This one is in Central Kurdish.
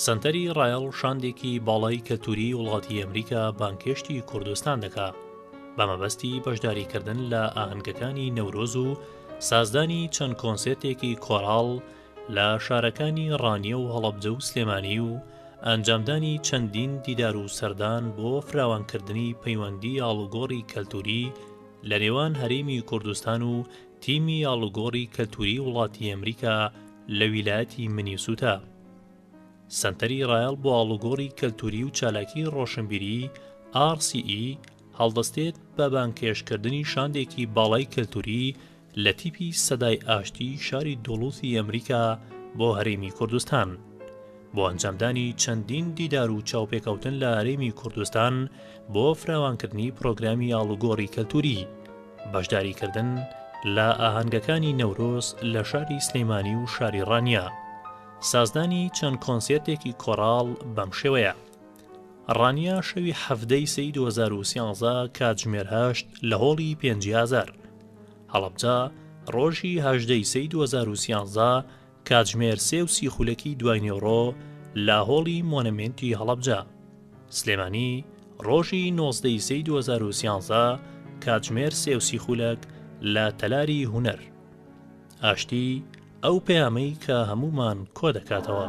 سەنتەری ڕایەڵ شاندێکی باڵای کەلتوری وڵاتی ئەمریکا بانکێشتی کوردستان دەکا بە مەبەستی بەشداریکردن لە ئاهەنگەکانی نەورۆز و سازدانی چەند کۆنسێتێکی کۆراڵ لە شارەکانی ڕانیە و هەڵەبجە و سلێمانی و ئەنجامدانی چەندین دیدار و سەردان بۆ فراوانکردنی پەیوەندی ئاڵوگۆڕی کەلتوری لە نێوان هەرێمی کوردستان و تیمی ئاڵوگۆڕی کەلتووری وڵاتی ئەمریکا لە ویلایەتی منیسوتا سەنتەری ڕایەڵ بۆ ئاڵوگۆڕی کەلتووری و چالاکی ڕۆشنبیری RCE هەڵدەستێت بە بانکێشکردنی شاندێکی باڵای کەلتووری لە تیپی سەدای ئاشتی شاری دۆڵوسی ئەمریکا بۆ هەرێمی کوردستان. بۆ ئەنجامدانی چەندین دیدار و چاوپێکەوتن لە هەرێمی کوردستان بۆ فراوانکردنی پرۆگرامی ئاڵوگۆڕی کەلتوری بەشداریکردن لە ئاهەنگەکانی نەورۆز لە شاری سلەیمانی و شاری ڕانیە سازدانی چەند کۆنسێرتێکی کۆراڵ بەم شێوەیە ڕانیە شەوی حەفدەی سی 2013 کاتژمێر هەشت لە هۆڵی پێنجهزار هەڵبجا ڕۆژی هەژدەی سی 2013 کاتژمێر سێ و سی خولەکی دوای نیوەڕۆ لە هۆڵی مۆنەمێنتی هەڵەبجە سلێمانی ڕۆژی نۆزدەی سەی 2013 کاتژمێر سێ و سی خولەک لە تەلاری هونەر ئاشتی ئەو پەیامەی کە هەمومان کۆ دەکاتەوە.